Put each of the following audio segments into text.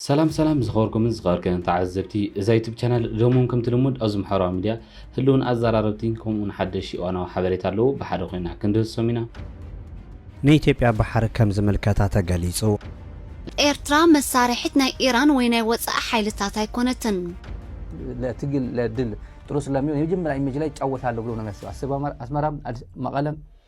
ሰላም ሰላም ዝኸበርኩምን ዝኸበርከንን ተዓዘብቲ እዛ ዩቱብ ቻናል ሎሚ እውን ከምቲ ልሙድ ኣብዚ ምሕበራዊ ሚድያ ህልውን ኣዘራረብቲን ከምኡ እውን ሓደሽ እዋናዊ ሓበሬታ ኣለዉ ብሓደ ኮይና ክንድህሶም ኢና። ንኢትዮጵያ ባሕሪ ከም ዝምልከታ ተገሊጹ። ኤርትራ መሳርሒት ናይ ኢራን ወይ ናይ ወጻኢ ሓይልታት ኣይኮነትን። ለትግል ለድል ጥሩ ስለሚሆን የመጀመሪያ ኢሜጅ ላይ ይጫወታሉ ብሎ ነው የሚያስበው አስመራም መቀለም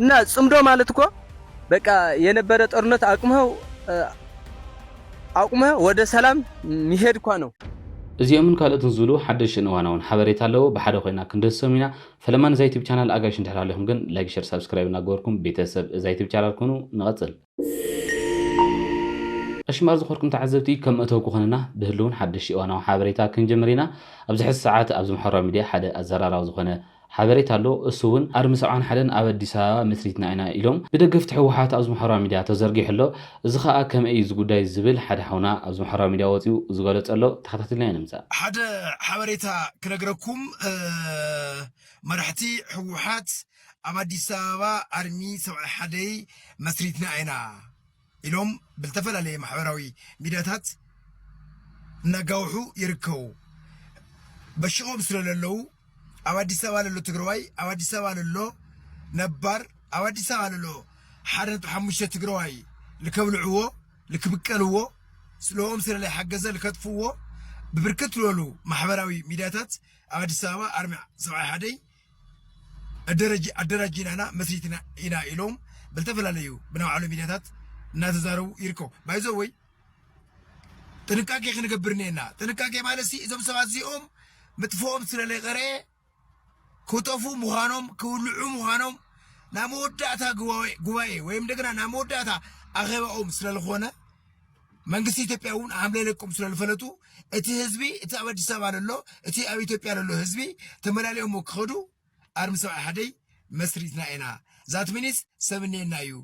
እና ጽምዶ ማለት እኮ በቃ የነበረ ጦርነት አቁመህ አቁመህ ወደ ሰላም ሚሄድ እኳ ነው። እዚኦምን ካልኦትን ዝብሉ ሓደሽቲ እዋናውን ሓበሬታ ኣለዎ ብሓደ ኮይና ክንደሰም ኢና ፈለማ ንዛ ዩቱብ ቻናል ኣጋይሽ እንድሕር ሃሊኹም ግን ላይክ ሸር ሳብስክራይብ እናገበርኩም ቤተሰብ እዛ ዩቱብ ቻናል ኩኑ ንቐፅል ዕሽማር ዝኮርኩም ተዓዘብቲ ከም መእተዊ ክኮነና ብህልውን ሓደሽቲ እዋናዊ ሓበሬታ ክንጅምር ኢና ኣብዚ ሕዚ ሰዓት ኣብዚ ማሕበራዊ ሚድያ ሓደ ኣዘራራቢ ዝኮነ ሓበሬታ ኣሎ እሱ ውን ኣርሚ ሰብዓን ሓደን ኣብ ኣዲስ ኣበባ መስሪትና ኢና ኢሎም ብደገፍቲ ህወሓት ኣብዚ ማሕበራዊ ሚድያ ተዘርጊሑ ኣሎ እዚ ከኣ ከመይ እዩ እዚ ጉዳይ ዝብል ሓደ ሓውና ኣብዚ ማሕበራዊ ሚድያ ወጺኡ ዝገለጾ ኣሎ ተከታቲልናዮ ንምጻእ። ሓደ ሓበሬታ ክነግረኩም መራሕቲ ህወሓት ኣብ ኣዲስ ኣበባ ኣርሚ ሰብዓይ ሓደይ መስሪትና ኢና ኢሎም ብዝተፈላለየ ማሕበራዊ ሚድያታት እናጋውሑ ይርከቡ። በሽቆም ስለ ለለዉ ኣብ ኣዲስ ኣበባ ለሎ ትግራዋይ ኣብ ኣዲስ ኣበባ ለሎ ነባር ኣብ ኣዲስ ኣበባ ለሎ ሓደ ነጥቢ ሓሙሽተ ትግራዋይ ልከብልዕዎ ልክብቀልዎ ስለኦም ስለ ለይሓገዘ ልከጥፍዎ ብብርክት ዝበሉ ማሕበራዊ ሚድያታት ኣብ ኣዲስ ኣበባ ኣርሚ ሰብዓይ ሓደይ ኣደራጂናና መስሪትና ኢና ኢሎም ብዝተፈላለዩ ብናይ ባዕሎም ሚድያታት እናተዛረቡ ይርከቡ ባይዞ ወይ ጥንቃቄ ክንገብር እኒአና ጥንቃቄ ማለት ሲ እዞም ሰባት እዚኦም ምጥፍኦም ስለለይቀረየ ክጠፉ ምዃኖም ክውልዑ ምዃኖም ናብ መወዳእታ ጉባኤ ወይም እንደገና ናብ መወዳእታ ኣኼባኦም ስለዝኾነ መንግስቲ ኢትዮጵያ እውን ሓምለ ለቁም ስለ ዝፈለጡ እቲ ህዝቢ እቲ ኣብ ኣዲስ ኣበባ ዘሎ እቲ ኣብ ኢትዮጵያ ዘሎ ህዝቢ ተመላሊኦሞ ክኸዱ ኣርሚ ሰብዓ ሓደይ መስሪትና ኢና ዛት ሚኒስ ሰብ እኒኤና እዩ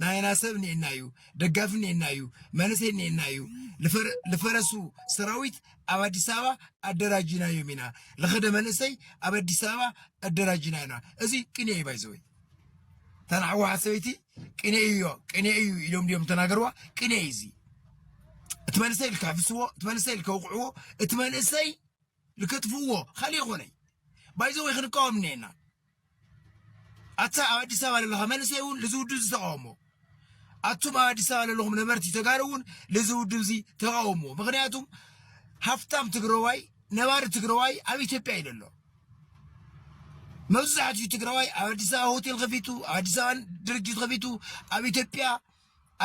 ናይና ሰብ እኒኤና እዩ ደጋፊ እኒኤና እዩ መንእሰይ እኒኤና እዩ ልፈረሱ ሰራዊት ኣብ ኣዲስ ኣበባ ኣደራጅናዮም ኢና ልኸደ መንእሰይ ኣብ ኣዲስ ኣበባ ኣደራጅና ኢና እዚ ቅንየ እዩ ባይዘወይ ተን ኣሕዋሓት ሰበይቲ ቅኔ እዮ ቅኔ እዩ ኢሎም ድዮም ተናገርዋ ቅኔ እዩ እዚ እቲ መንእሰይ ልክሕፍስዎ እቲ መንእሰይ ልከውቕዕዎ እቲ መንእሰይ ልከጥፍዎ ካልእ ይኾነይ ባይዘወይ ክንቃወም እኒኤና ኣታ ኣብ ኣዲስ ኣበባ ዘለኻ መንእሰይ እውን ልዝውዱ ዝተቃወሞ ኣቱም ኣብ ኣዲስ ኣበባ ዘለኹም ነበርቲ ተጋሩ እውን ልዚ ውድብ እዚ ተቃውምዎ ምክንያቱም ሃፍታም ትግራዋይ ነባሪ ትግራዋይ ኣብ ኢትዮጵያ እዩ ዘሎ መብዛሕትኡ ትግራዋይ ኣብ ኣዲስ ኣበባ ሆቴል ከፊቱ ኣብ ኣዲስ ኣበባ ድርጅት ከፊቱ ኣብ ኢትዮጵያ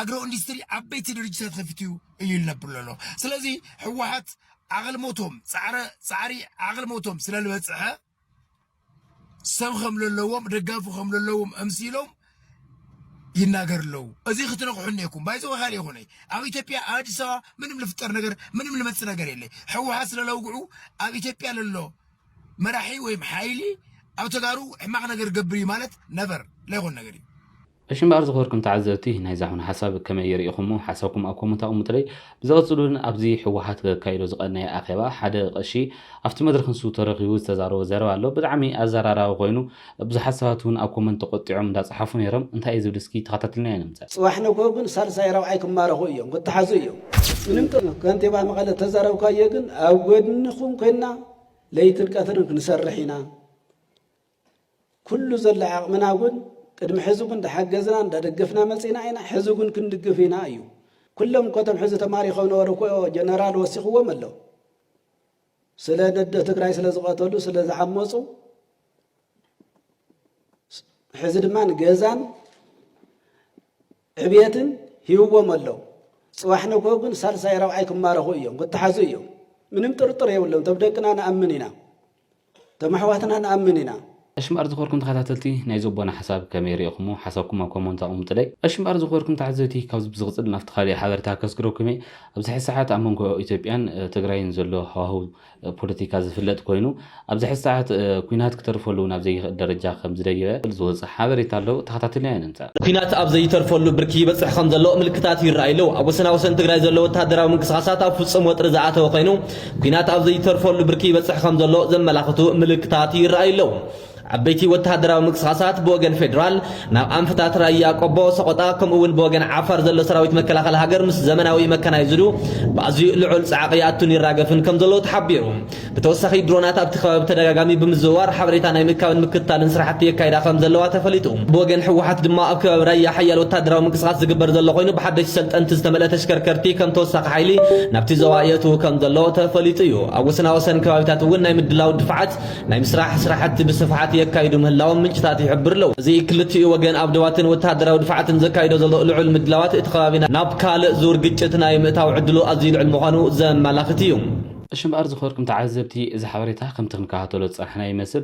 ኣግሮ ኢንዱስትሪ ዓበይቲ ድርጅታት ከፊቱ እዩ ዝነብር ዘሎ ስለዚ ህወሓት ዓቕልሞቶም ፃዕረ ፃዕሪ ዓቕልሞቶም ስለ ዝበፅሐ ሰብ ከም ዘለዎም ደጋፊ ከም ዘለዎም እምሲሎም ይናገር ኣለዉ እዚ ክትነቕሑ እኔኩም ባይዘወ ካልእ ይኹነ ኣብ ኢትዮጵያ ኣብ ኣዲስ ኣበባ ምንም ልፍጠር ነገር ምንም ልመፅእ ነገር የለ ሕወሓት ስለለውግዑ ኣብ ኢትዮጵያ ለሎ መራሒ ወይም ሓይሊ ኣብ ተጋሩ ሕማቕ ነገር ገብር እዩ ማለት ነበር ለይኮን ነገር እዩ እሺ እምበኣር ዝኸበርኩም ተዓዘብቲ ናይዛ ኹነ ሓሳብ ከመይ ሪኢኹሞ ሓሳብኩም ኣብ ኮሞንት ኣቅሙጥለይ ብዝቅጽሉ ግን ኣብዚ ሕወሓት ከካይዶ ዝቀነየ ኣኼባ ሓደ ቀሺ ኣብቲ መድረኽ ንሱ ተረኺቡ ዝተዛረቦ ዘረባ ኣሎ ብጣዕሚ ኣዘራራቢ ኮይኑ ብዙሓት ሰባት ውን ኣብ ኮሞንት ተቆጢዖም እንዳጸሓፉ ኔሮም እንታይ እዩ ዝብል እስኪ ተኸታትልናዮ ንምጸ። ፅባሕ ንግሆ ግን ሳልሳይ ራብዓይ ክማረኹ እዮም ክተሓዙ እዮም ምንም ጥርጥር ከንቲባ መቐለ ዝተዛረብካዮ ግን ኣብ ጎድንኹም ኮይና ለይትን ቀትርን ክንሰርሕ ኢና ኩሉ ዘሎ ዓቕምና እውን ቅድሚ ሕዚ እውን እንዳሓገዝና እንዳደገፍና መፂእና ኢና፣ ሕዚ እውን ክንድግፍ ኢና እዩ። ኩሎም እኮ እቶም ሕዚ ተማሪኾም ነበሩ እኮ ጀነራል ወሲኽዎም ኣሎ። ስለ ነዶ ትግራይ ስለ ዝቐተሉ ስለ ዝዓመፁ ሕዚ ድማ ንገዛን ዕብየትን ሂውዎም ኣለው ፅባሕ ንግሆ ግን ሳልሳይ ረብዓይ ክማረኹ እዮም ክተሓዙ እዮም ምንም ጥርጥር የብሎም ቶም ደቅና ንኣምን ኢና እቶም ኣሕዋትና ንኣምን ኢና። እሺ እምበኣር ዝኽበርኩም ተኸታተልቲ ናይዚ ኣቦና ሓሳብ ከመይ ሪእኹሞ ሓሳብኩም ኣብ ኮሞንት ኣቕሙጥለይ። እሺ እምበኣር ዝኽበርኩም ተዓዘብቲ ካብዚ ብዝቕጽል ናብቲ ካሊእ ሓበረታ ከስግረኩም እየ። ኣብዚ ሕዚ ሰዓት ኣብ መንጎ ኢትዮጵያን ትግራይን ዘሎ ሃዋህው ፖለቲካ ዝፍለጥ ኮይኑ ኣብዚ ሕዚ ሰዓት ኩናት ክተርፈሉ ናብ ዘይኽእል ደረጃ ከም ዝደየበ ዝወጸ ሓበሬታ ኣሎ ተኸታቲልናዮ ንምጻእ። ኩናት ኣብ ዘይተርፈሉ ብርኪ ይበጽሕ ከም ዘሎ ምልክታት ይረኣዩ ኣለዉ። ኣብ ወሰናወሰን ትግራይ ዘሎ ወተሃደራዊ ምንቅስቓሳት ኣብ ፍጹም ወጥሪ ዝኣተወ ኮይኑ፣ ኲናት ኣብ ዘይተርፈሉ ብርኪ ይበጽሕ ከም ዘሎ ዘመላኽቱ ምልክታት ይረኣዩ ኣለዉ። ዓበይቲ ወተሃደራዊ ምንቅስቓሳት ብወገን ፌደራል ናብ ኣንፈታት ራያ ቆቦ፣ ሰቖጣ ከምኡ'ውን ብወገን ዓፋር ዘሎ ሰራዊት መከላኸሊ ሃገር ምስ ዘመናዊ መካናይዝዱ ብኣዝዩ ልዑል ጻዕቒ ይኣቱን ይራገፍን ከም ዘሎ ተሓቢሩ። ብተወሳኺ ድሮናት ኣብቲ ከባቢ ብተደጋጋሚ ብምዝውዋር ሓበሬታ ናይ ምእካብን ምክትታልን ስራሕቲ የካይዳ ከም ዘለዋ ተፈሊጡ። ብወገን ህወሓት ድማ ኣብ ከባቢ ራያ ሓያል ወታደራዊ ምንቅስቓስ ዝግበር ዘሎ ኮይኑ ብሓደሽቲ ሰልጠንቲ ዝተመልአ ተሽከርከርቲ ከም ተወሳኺ ሓይሊ ናብቲ ዞባ የእትው ከም ዘሎ ተፈሊጡ እዩ። ኣብ ወሰናወሰን ከባቢታት እውን ናይ ምድላው ድፋዓት ናይ ምስራሕ ስራሕቲ ብስፍሓት የካይዱ ምህላዎም ምንጭታት ይሕብሩ ኣለው። እዚ ክልቲኡ ወገን ኣብ ዶባትን ወተሃደራዊ ድፋዓትን ዘካይዶ ዘሎ ልዑል ምድላዋት እቲ ከባቢ ናብ ካልእ ዙር ግጭት ናይ ምእታው ዕድሉ ኣዝዩ ልዑል ምዃኑ ዘመላኽት እዩ። እሺ እምበኣር ዝኸበርኩም ተዓዘብቲ እዚ ሓበሬታ ከምቲ ክንከታተሎ ዝጸናሕና ይመስል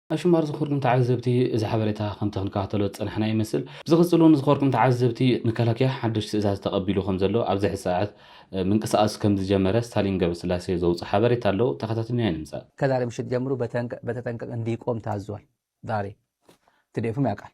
ኣሽማር ዝኸርኩም ተዓዘብቲ እዚ ሓበሬታ ከምቲ ክንከታተሎ ዝጸናሕና ይመስል ብዝቕጽል ውን ዝኸርኩም ተዓዘብቲ መከላከያ ሓዱሽ ትእዛዝ ተቐቢሉ ከምዘሎ ኣብዚ ሕዚ ሰዓት ምንቅስቓስ ከምዝጀመረ ስታሊን ገብረስላሴ ዘውጽኦ ሓበሬታ ኣሎ ተኸታትልና ኣይንምጻእ። ከዛሬ ምሽት ጀምሮ በተጠንቀቅ እንዲቆም ታዟል ዛሬ ትዴፍም ያቃል።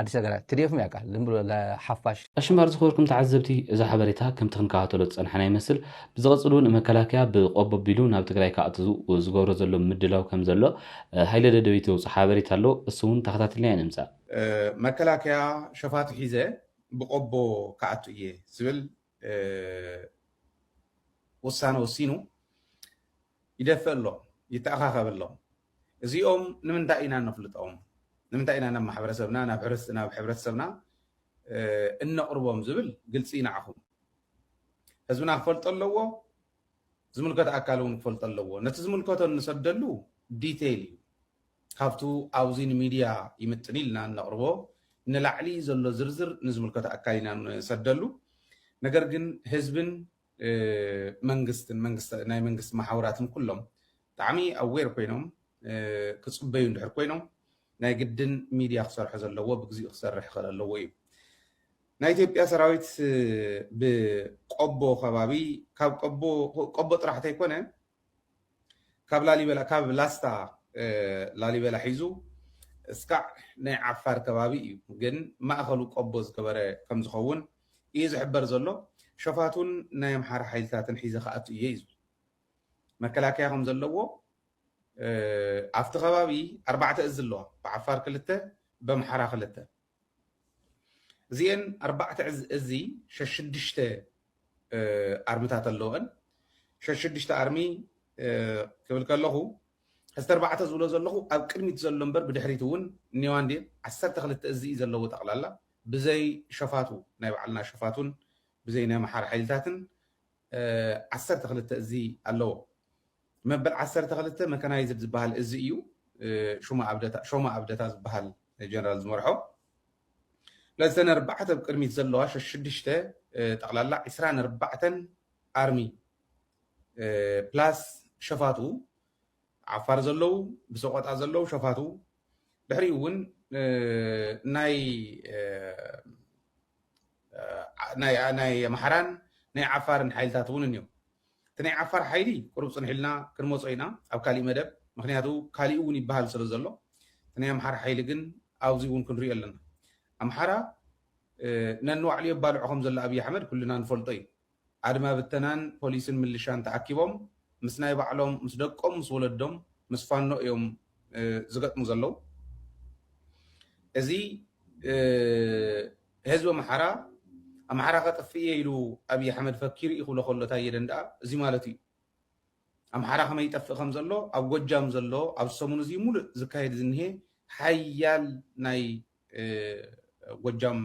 ኣዲስ ነገራት ትዲኤፍ ም ያቃል ዝም ብሎ ሓፋሽ። ቀሺ እምበኣር ዝኸበርኩም ተዓዘብቲ እዚ ሓበሬታ ከምቲ ክንከታተሎ ዝጸናሕና ይመስል ብዝቐጽል ውን መከላከያ ብቆቦ ኣቢሉ ናብ ትግራይ ክኣቱ ዝገብሮ ዘሎ ምድላው ከምዘሎ ሃይለ ደደቢት ዘውጽኦ ሓበሬታ ኣሎ እሱ ውን ተኸታቲልናዮ ንምጻእ መከላከያ ሸፋቱ ሒዘ ብቆቦ ክኣቱ እየ ዝብል ውሳነ ወሲኑ ይደፍእ ኣሎ ይተኣኻኸብ ኣሎ። እዚኦም ንምንታይ ኢና እነፍልጦም፣ ንምንታይ ኢና ናብ ማሕበረሰብና ናብ ሕብረተሰብና እነቕርቦም ዝብል ግልፂ ንዓኹም ህዝብና ክፈልጦ ኣለዎ፣ ዝምልከት ኣካል እውን ክፈልጦ ኣለዎ። ነቲ ዝምልከቶ እንሰደሉ ዲቴይል እዩ ካብቱ ኣብዚ ንሚድያ ይምጥን ኢልና እነቕርቦ ንላዕሊ ዘሎ ዝርዝር ንዝምልከቶ ኣካል ኢና ንሰደሉ። ነገር ግን ህዝብን መንግስትን ናይ መንግስቲ መሓውራትን ኩሎም ብጣዕሚ ኣዌር ኮይኖም ክጽበዩ እንድሕር ኮይኖም ናይ ግድን ሚድያ ክሰርሖ ዘለዎ ብግዚኡ ክሰርሕ ይኽእል ኣለዎ እዩ። ናይ ኢትዮጵያ ሰራዊት ብቆቦ ከባቢ ካብ ቆቦ ቆቦ ጥራሕ ተይኮነ ካብ ላሊበላ ካብ ላስታ ላሊበላ ሒዙ እስካዕ ናይ ዓፋር ከባቢ እዩ ግን ማእኸሉ ቆቦ ዝገበረ ከም ዝኸውን እዩ ዝሕበር ዘሎ። ሸፋቱን ናይ ኣምሓራ ሓይልታትን ሒዘ ክኣቱ እየ እዩ ዝብል። መከላከያ ከም ዘለዎ ኣብቲ ከባቢ ኣርባዕተ እዝ ኣለዋ ብዓፋር ክልተ በምሓራ ክልተ እዚኤን ኣርባዕተ እዚ ሸሽዱሽተ ኣርምታት ኣለወን ሸሽዱሽተ ኣርሚ ክብል ከለኹ ሕዝቲ ኣርባዕተ ዝብሎ ዘለኹ ኣብ ቅድሚት ዘሎ እምበር ብድሕሪት እውን እኒዋ እንዲ ዓሰርተ ክልተ እዚ እዩ ዘለዎ ጠቕላላ ብዘይ ሸፋቱ ናይ ባዕልና ሸፋቱን ብዘይ ናይ መሓር ሓይልታትን ዓሰርተ ክልተ እዚ ኣለዎ። መበል ዓሰርተ ክልተ መካናይዝድ ዝበሃል እዚ እዩ ሾማ ኣብደታ ዝበሃል ጀነራል ዝመርሖ። ለሰን ኣርባዕተ ብ ቅድሚት ዘለዋ ሸሽዱሽተ ጠቕላላ ዕስራን ኣርባዕተን ኣርሚ ፕላስ ሸፋቱ ዓፋር ዘለው ብሰቆጣ ዘለው ሸፋቱ ድሕሪኡ እውን ናይ ኣምሓራን ናይ ዓፋርን ሓይልታት እውን እኒኦ። እቲ ናይ ዓፋር ሓይሊ ቁሩብ ፅንሕ ኢልና ክንመፆ ኢና ኣብ ካሊእ መደብ ምክንያቱ ካሊኡ እውን ይበሃል ስለ ዘሎ እቲ ናይ ኣምሓራ ሓይሊ ግን ኣብዚ እውን ክንሪኦ ኣለና። ኣምሓራ ነንባዕሉ የባልዖ ከም ዘሎ ኣብይ ኣሕመድ ኩልና ንፈልጦ እዩ። ኣድማ ብተናን ፖሊስን ምልሻን ተኣኪቦም ምስ ናይ ባዕሎም ምስ ደቆም ምስ ወለዶም ምስ ፋኖ እዮም ዝገጥሙ ዘለው እዚ ህዝቢ ኣምሓራ ኣምሓራ ከጥፍእ እየ ኢሉ ኣብይ ኣሕመድ ፈኪሩ እዩ ክብሎ ከሎ ታየ ደንደኣ እዚ ማለቱ እዩ ኣምሓራ ከመይ ይጠፍእ ከም ዘሎ ኣብ ጎጃም ዘሎ ኣብ ሰሙን እዚ ሙሉእ ዝካየድ ዝኒሄ ሓያል ናይ ጎጃም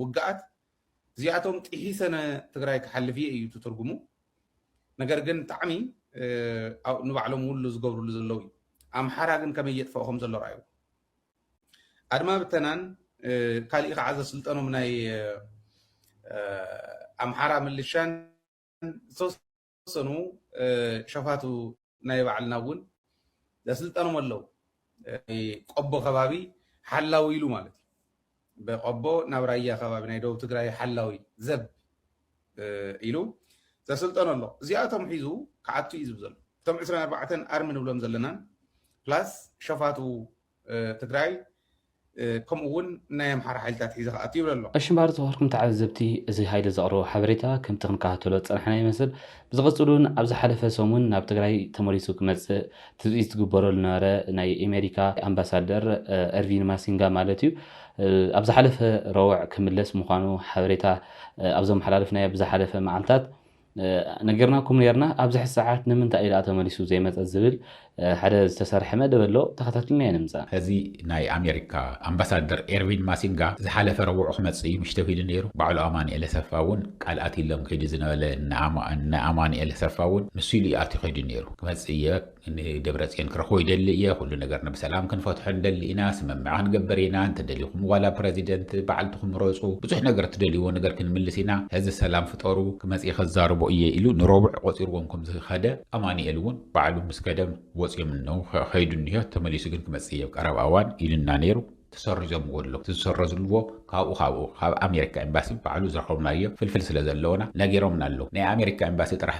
ውግኣት እዚኣቶም ጢሒሰ ን ትግራይ ክሓልፍ እየ እዩ እቲ ትርጉሙ ነገር ግን ጣዕሚ ንባዕሎም ውሉ ዝገብርሉ ዘለው እዩ ኣምሓራ ግን ከመይ የጥፈኦ ከም ዘሎ ረኣይዎ ኣድማ ብተናን ካሊእ ከዓ ዘስልጠኖም ናይ ኣምሓራ ምልሻን ዝተወሰነ ዝተወሰኑ ሸፋቱ ናይ ባዕልና እውን ዘስልጠኖም ኣለው። ቆቦ ከባቢ ሓላዊ ኢሉ ማለት እዩ። ብቆቦ ናብ ራያ ከባቢ ናይ ደቡብ ትግራይ ሓላዊ ዘብ ኢሉ ዘስልጠኖ ኣሎ። እዚኣቶም ሒዙ ክኣቱ እዩ ዝብ ዘሎ እቶም ዕስራን ኣርባዕተን ኣርሚ ንብሎም ዘለናን ፕላስ ሸፋቱ ትግራይ ከምኡ እውን ናይ ኣምሓራ ሓይልታት ሒዘ ክኣቱ ይብል ኣሎ። ኣብ ሽምባር ዝኸርኩም ተዓዘብቲ እዚ ሃይለ ዘቕረቦ ሓበሬታ ከምቲ ክንከታተሎ ዝጸናሕና ይመስል። ብዝቕጽል እውን ኣብ ዝሓለፈ ሰሙን ናብ ትግራይ ተመሊሱ ክመጽእ ትጽቢት ዝግበረሉ ዝነበረ ናይ ኣሜሪካ ኣምባሳደር ኤርቪን ማሲንጋ ማለት እዩ ኣብ ዝሓለፈ ረቡዕ ክምለስ ምዃኑ ሓበሬታ ኣብ ዘመሓላለፍናዮ ብዝሓለፈ መዓልታት ነጊርናኩም ኔርና ኣብዝሐ ሰዓት ንምንታይ እዩ ደኣ ተመሊሱ ዘይመጸ ዝብል ሐደ ዝተሰርሐ መደብ ኣሎ ተኸታትልና የንምጻ። እዚ ናይ ኣሜሪካ ኣምባሳደር ኤርቪን ማሲንጋ ዝሓለፈ ረቡዕ ክመጽእ እዩ ምሽቶ ኪዱ ነይሩ ባዕሉ ኣማኒኤል ኣሰፋ እውን ቃል ኣትይሎም ኪዱ ዝነበለ እነ ኣማኒኤል ኣሰፋ እውን ንሱ ኢሉ እዩ ኣትዩ ኪዱ ነይሩ ክመጽእ እየ ንደብረፅዮን ክረኽቦ ይደሊ እየ፣ ኩሉ ነገር ንብሰላም ክንፈትሖ ንደሊ ኢና፣ ስምምዕ ክንገብር ኢና፣ እንተደሊኹም ዋላ ፕረዚደንት ባዕልትኹም ምረፁ፣ ብዙሕ ነገር እትደልይዎ ነገር ክንምልስ ኢና፣ ሕዚ ሰላም ፍጠሩ፣ ክመፅእ ከዛርቦ እየ ኢሉ ንረቡዕ ቆፂርዎም ከምዝኸደ ኣማኒኤል እውን ባዕሉ ምስ ከደ ወፅዮም እነዉ ከይዱ እኒሀ፣ ተመሊሱ ግን ክመፅእ እየ ኣብ ቀረባ እዋን ኢሉና ነይሩ። ተሰሪዞምዎ ኣለዉ፣ እቲ ዝሰረዝልዎ ካብኡ ካብኡ ካብ ኣሜሪካ ኤምባሲ ባዕሉ ዝረኸብናዮ ፍልፍል ስለዘለወና ነጊሮምና ኣለዉ፣ ናይ ኣሜሪካ ኤምባሲ ጥራሕ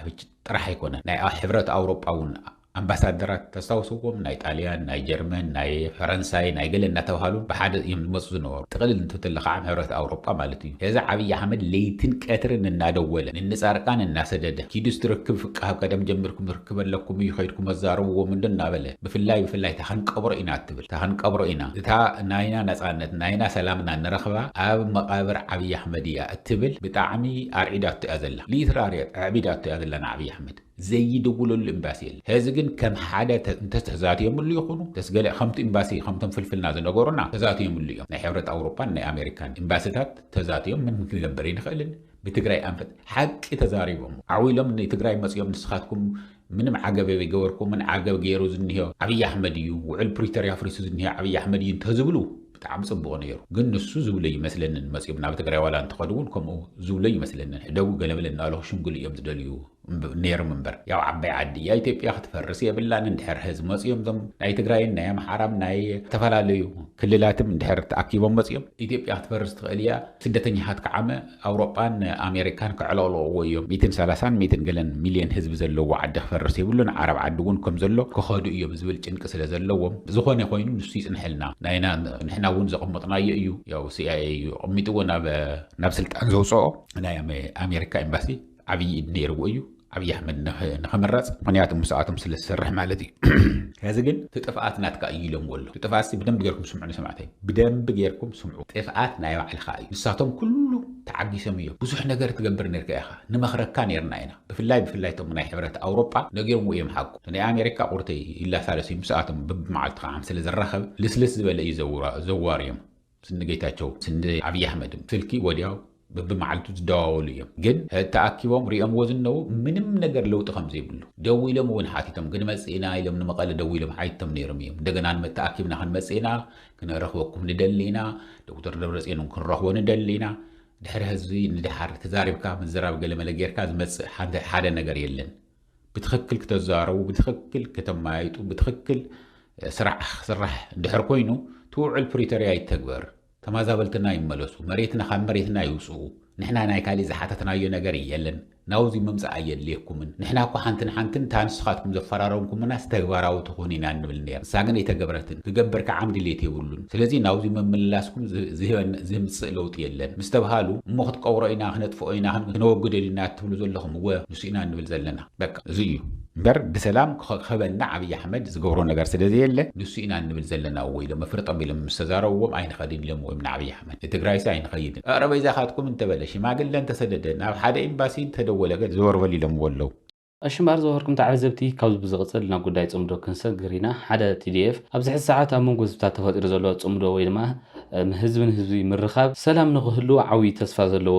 ጥራሕ ኣይኮነን ናይ ሕብረት ኣውሮጳ ውን ኣምባሳደራት ተስታውስዎም ናይ ጣልያን ናይ ጀርመን ናይ ፈረንሳይ ናይ ገለ እንዳተባሃሉ ብሓደ እዮም ዝመጹ ዝነበሩ ጥቅልል እንትትብሎ ካዓ ሕብረት ኣውሮጳ ማለት እዩ ስለዚ ዓብይ ኣሕመድ ለይትን ቀትርን እናደወለ ንንጻርቃን እናሰደደ ኪዱ እስቲ ርክብ ፍቃብ ቀደም ጀሚርኩም ርክብ ኣለኩም እዩ ከይድኩም ኣዛርብዎም እንዶ እናበለ ብፍላይ ብፍላይ እታ ክንቀብሮ ኢና እትብል እታ ክንቀብሮ ኢና፣ እታ ናይና ነጻነት ናይና ሰላምና ንረኽባ ኣብ መቓብር ዓብይ ኣሕመድ እያ እትብል ብጣዕሚ ኣርዒዳቶ እያ ዘላ ሊትራሪ ኣዕቢዳቶ እያ ዘላ ንዓብይ ኣሕመድ ዘይድውለሉ ኢምባሲ የለን ሀዚ ግን ከም ሓደ እንተስ ተዛትዮምሉ ይኹኑ እንተስ ገለ ከምቱ ኢምባሲ ከምቶም ፍልፍልና ዝነገሩና ተዛትዮምሉ እዮም ናይ ሕብረት ኣውሮፓን ናይ ኣሜሪካን ኢምባሲታት ተዛትዮም ምን ክንገብር ኣይንኽእልን ብትግራይ ኣንፈት ሓቂ ተዛሪቦም ዓው ኢሎም ንትግራይ መፅዮም ንስኻትኩም ምንም ዓገብ የበይገበርኩምን ዓገብ ገይሩ ዝኒሆ ኣብይ ኣሕመድ እዩ ውዕል ፕሪቶርያ ኣፍሪሱ ዝኒሆ ኣብይ ኣሕመድ እዩ እንተዝብሉ ብጣዕሚ ፅቡቕ ነይሩ ግን ንሱ ዝብሎ ይመስለንን መፅዮም ናብ ትግራይ ዋላ እንተኸዱ እውን ከምኡ ዝብሎ ይመስለንን ሕደጉ ገለመለ እናበሉ ክሽምግሉ እዮም ዝደልዩ ነይርም እምበር ያው ዓባይ ዓዲ እያ ኢትዮጵያ ክትፈርስ የብላን እንድሕር ህዝ መፅኦም ዞም ናይ ትግራይን ናይ ኣምሓራም ናይ ዝተፈላለዩ ክልላትም እንድሕር ተኣኪቦም መፅኦም ኢትዮጵያ ክትፈርስ ትኽእል እያ ስደተኛታት ከዓመ ኣውሮጳን ኣሜሪካን ከዕለቕለቕዎ እዮም ሚትን ሰላሳን ሚትን ገለን ሚልዮን ህዝቢ ዘለዎ ዓዲ ክፈርስ የብሉን ዓረብ ዓዲ እውን ከም ዘሎ ክኸዱ እዮም ዝብል ጭንቂ ስለ ዘለዎም ዝኾነ ኮይኑ ንሱ ይፅንሐልና ናይና ንሕና እውን ዘቐመጥናዮ እዩ ያው ሲኣይኤ እዩ ኣቐሚጥዎ ናብ ናብ ስልጣን ዘውፅኦ ናይ ኣሜሪካ ኤምባሲ ዓብዪ ኢድ ነይርዎ እዩ ዓብዪ ኣሕመድ ንኸመራፅ ምክንያቱ ምስኣቶም ስለ ዝሰርሕ ማለት እዩ ከዚ ግን እቲ ጥፍኣት ናትካ እዩ ኢሎምዎ ኣሎ እቲ ጥፍኣት ሲ ብደንቢ ጌርኩም ስምዑኒ ሰማዕተይ ብደንቢ ጌርኩም ስምዑ ጥፍኣት ናይ ባዕልኻ እዩ ንሳቶም ኩሉ ተዓጊሶም እዮም ብዙሕ ነገር ትገብር ነርካ ኢኻ ንመኽረካ ነርና ኢና ብፍላይ ብፍላይ እቶም ናይ ሕብረት ኣውሮጳ ነጊሮምዎ እዮም ሓቁ ናይ ኣሜሪካ ቁርተይ ይላሳለስ እዩ ምስኣቶም ብብመዓልቲ ከዓ ስለ ዝራኸብ ልስልስ ዝበለ እዩ ዘዋርዮም ስኒ ጌታቸው ስኒ ኣብይ ኣሕመድም ስልኪ ወዲያው በብመዓልቱ ዝደዋወሉ እዮም ግን ተኣኪቦም ሪኦምዎ ዝነዉ ምንም ነገር ለውጢ ከምዘይብሉ ደዊሎም እውን ሓቲቶም ክንመፅእ ኢና ኢሎም ንመቐለ ደዊሎም ሓይቶም ነይሮም እዮም እንደገና ንመ ተኣኪብና ክንመፅእ ኢና ክንረኽበኩም ንደሊ ኢና ዶክተር ደብረፅዮን እውን ክንረኽቦ ንደሊ ኢና ድሕሪ ህዝቢ ንደሓር ተዛሪብካ ምዝራብ ገለመለ ጌርካ ዝመፅእ ሓደ ነገር የለን ብትኽክል ክተዛረቡ፣ ብትኽክል ከተማያይጡ፣ ብትኽክል ስራሕ ክስራሕ እንድሕር ኮይኑ እቲ ውዕል ፕሪቶርያ ይተግበር፣ ተማዛበልትና ይመለሱ፣ መሬትና ካብ መሬትና ይውፅኡ፣ ንሕና ናይ ካሊእ ዝሓተትናዮ ነገር የለን፣ ናብዙይ ምምፃእ ኣየድልየኩምን፣ ንሕና እኳ ሓንቲ ንሓንትን እታ ንስኻትኩም ዘፈራረምኩምናስ ተግባራዊ ትኾን ኢና ንብል ነይርና፣ ንሳ ግን ኣይተገብረትን፣ ክገብር ከዓ ድሌት የብሉን፣ ስለዙይ ናብዙይ ምምልላስኩም ዝህምፅእ ለውጢ የለን ምስተብሃሉ እሞ ክትቀብሮ ኢና፣ ክነጥፍኦ ኢና፣ ክነወግዶ ኢና እትብሉ ዘለኹም እወ ኢና ንብል ዘለና በቃ እዙይ እዩ እምበር ብሰላም ክኸበና ዓብዪ ኣሕመድ ዝገብሮ ነገር ስለ ዘየለ ንሱ ኢና ንብል ዘለና እዎ ኢሎም መፍርጦም ኢሎም ምስ ተዛረብዎም ኣይንኸድን ኢሎምዎ እዮም ንዓብዪ ኣሕመድ ንትግራይሲ ኣይንኸይድን ኣረ በይዛኻትኩም እንተበለ ሽማግለ እንተሰደደ ናብ ሓደ ኤምባሲ እንተደወለ ገለ ዘወር በል ኢሎምዎ ኣለው። እሺ እምበኣር ዝወሀርኩም ተዓዘብቲ ካብዚ ብዝቕፅል ናብ ጉዳይ ፅምዶ ክንሰግር ኢና። ሓደ tdf ኣብዚ ሕዚ ሰዓት ኣብ መንጎ ህዝብታት ተፈጢሩ ዘሎ ፅምዶ ወይ ድማ ህዝቢ ንህዝቢ ምርኻብ ሰላም ንኽህልው ዓብይ ተስፋ ዘለዎ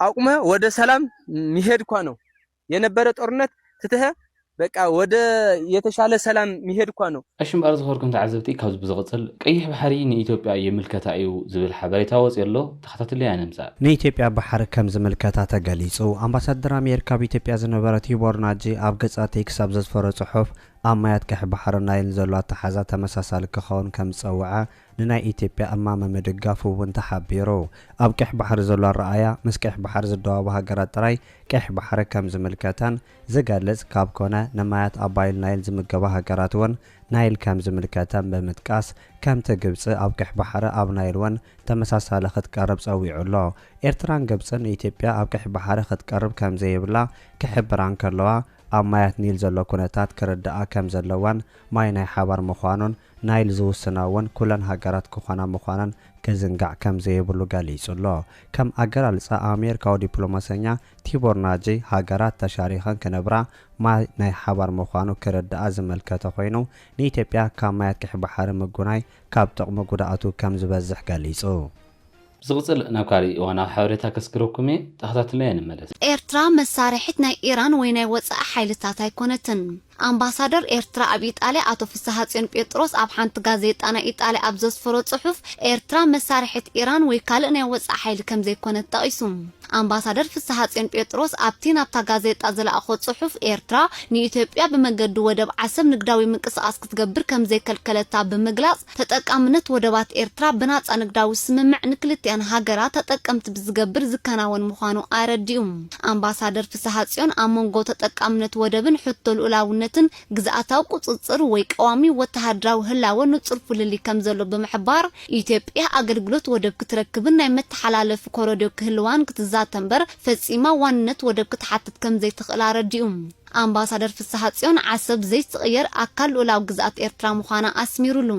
ኣቁመ ወደ ሰላም ሚሄድ እኳ ነው የነበረ ጦርነት ትትሀ በቃ ወደ የተሻለ ሰላም ሚሄድ እኳ ነው። እሺ እምበኣር ዝኸበርኩም ተዓዘብቲ ካብዚ ብዝቕጽል ቀይሕ ባሕሪ ንኢትዮጵያ ይምልከታ እዩ ዝብል ሓበሬታ ወጺኡ ኣሎ ተኸታትለያ ንምጻእ። ንኢትዮጵያ ባሕሪ ከም ዝምልከታ ተገሊጹ። ኣምባሳደር ኣሜሪካ ኣብ ኢትዮጵያ ዝነበረ ቲቦር ናጂ ኣብ ገጻት ኤክስ ኣብ ዘስፈሮ ጽሑፍ ኣብ ማያት ቀይሕ ባሕርን ናይልን ዘሎ ኣተሓሕዛ ተመሳሳሊ ክኸውን ከም ዝጸውዐ ንናይ ኢትዮጵያ እማመ ምድጋፉ እውን ተሓቢሩ። ኣብ ቀይሕ ባሕሪ ዘሎ ኣረኣእያ ምስ ቀይሕ ባሕሪ ዝደዋቡ ሃገራት ጥራይ ቀይሕ ባሕሪ ከም ዝምልከተን ዝገልጽ ካብ ኮነ ንማያት ኣባይል ናይል ዝምገባ ሃገራት እውን ናይል ከም ዝምልከተን ብምጥቃስ ከምቲ ግብጺ ኣብ ቀይሕ ባሕሪ ኣብ ናይል እውን ተመሳሳሊ ክትቀርብ ጸዊዑ ኣሎ። ኤርትራን ግብጽን ኢትዮጵያ ኣብ ቀይሕ ባሕሪ ክትቀርብ ከም ዘይብላ ክሕብራ እንከለዋ ኣብ ማያት ኒል ዘሎ ኩነታት ክርድኣ ከም ዘለዋን ማይ ናይ ሓባር ምዃኑን ናይል ዝውስና እውን ኩለን ሃገራት ክኾና ምዃነን ክዝንጋዕ ከም ዘይብሉ ገሊጹ ኣሎ። ከም ኣገላልጻ ኣሜሪካዊ ዲፕሎማሰኛ ቲቦር ናጂ፣ ሃገራት ተሻሪኸን ክነብራ ማይ ናይ ሓባር ምዃኑ ክርድኣ ዝመልከተ ኮይኑ፣ ንኢትዮጵያ ካብ ማያት ቀይሕ ባሕሪ ምጉናይ ካብ ጥቕሙ ጉድኣቱ ከም ዝበዝሕ ገሊጹ። ብዝቕጽል ናብ ካልእ እዋናዊ ሓበሬታ ከስግረኩም እየ፣ ተኸታትልናዮ ንመለስ። ኤርትራ መሳርሒት ናይ ኢራን ወይ ናይ ወጻኢ ሓይልታት ኣይኮነትን። ኣምባሳደር ኤርትራ ኣብ ኢጣልያ ኣቶ ፍስሃጽዮን ጴጥሮስ ኣብ ሓንቲ ጋዜጣ ናይ ኢጣልያ ኣብ ዘስፈሮ ጽሑፍ፣ ኤርትራ መሳርሒት ኢራን ወይ ካልእ ናይ ወጻኢ ሓይሊ ከምዘይኮነት ጠቒሱ። ኣምባሳደር ፍስሃጽዮን ጴጥሮስ ኣብቲ ናብታ ጋዜጣ ዝለኣኾ ጽሑፍ፣ ኤርትራ ንኢትዮጵያ ብመገዲ ወደብ ዓሰብ ንግዳዊ ምንቅስቓስ ክትገብር ከምዘይከልከለታ ብምግላጽ፣ ተጠቃምነት ወደባት ኤርትራ ብናጻ ንግዳዊ ስምምዕ ንክልቲኣን ሃገራት ተጠቀምቲ ብዝገብር ዝከናወን ምዃኑ ኣረዲኡ። ኣምባሳደር ፍስሃጽዮን ኣብ መንጎ ተጠቃምነት ወደብን ሕቶ ልኡላውነትን ግዝኣታዊ ቁጽጽር ወይ ቀዋሚ ወተሃደራዊ ህላወ ንጹር ፍልልይ ከምዘሎ ብምሕባር፣ ኢትዮጵያ ኣገልግሎት ወደብ ክትረክብን ናይ መተሓላለፊ ኮረድዮ ክህልዋን ክትዛተ'ምበር ፈጺማ ዋንነት ወደብ ክትሓትት ከምዘይትኽእል ኣረዲኡ። ኣምባሳደር ፍስሓጽዮን ዓሰብ ዘይትቕየር ኣካል ልኡላዊ ግዝኣት ኤርትራ ምዃና ኣስሚሩሉ።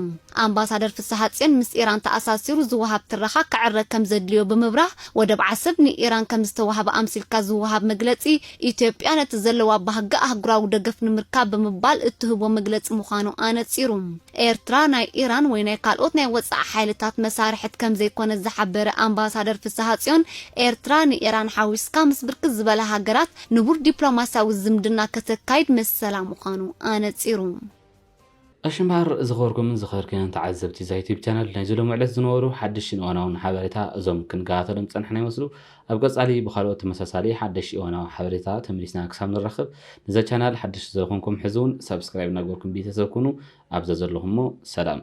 ኣምባሳደር ፍስሓጽዮን ምስ ኢራን ተኣሳሲሩ ዝወሃብ ትረኻ ክዕረ ከምዘድልዮ ብምብራህ፣ ወደብ ዓሰብ ንኢራን ከምዝተዋህበ ኣምሲልካ ዝወሃብ መግለጺ፣ ኢትዮጵያ ነቲ ዘለዋ ባህጊ ኣህጉራዊ ደገፍ ንምርካብ ብምባል እትህቦ መግለጺ ምዃኑ ኣነጺሩ። ኤርትራ ናይ ኢራን ወይ ናይ ካልኦት ናይ ወጻኢ ሓይልታት መሳርሕት ከምዘይኮነት ዝሓበረ ኣምባሳደር ፍስሓጽዮን፣ ኤርትራ ንኢራን ሓዊስካ ምስ ብርክት ዝበላ ሃገራት ንቡር ዲፕሎማስያዊ ዝምድና ከተካይድ መሰላ ምዃኑ ኣነጺሩ። ቀሺ እምበኣር ዝኸበርኩምን ዝኸበርክንን ተዓዘብቲ እዛ ዩቱብ ቻነል ናይዚ ሎሚ ዕለት ዝነበሩ ሓድሽን እዋናውን ሓበሬታ እዞም ክንከታተሎም ዝጸናሕና ይመስሉ ኣብ ቀጻሊ ብኻልኦት ተመሳሳሊ ሓደሽቲ እዋናዊ ሓበሬታ ተመሊስና ክሳብ ንራኸብ ነዛ ቻናል ሓደሽቲ ዝኾንኩም ሕዚ እውን ሳብስክራይብ እናገበርኩም ቤተሰብ ኩኑ ኣብ ዘዘለኹሞ ሰላም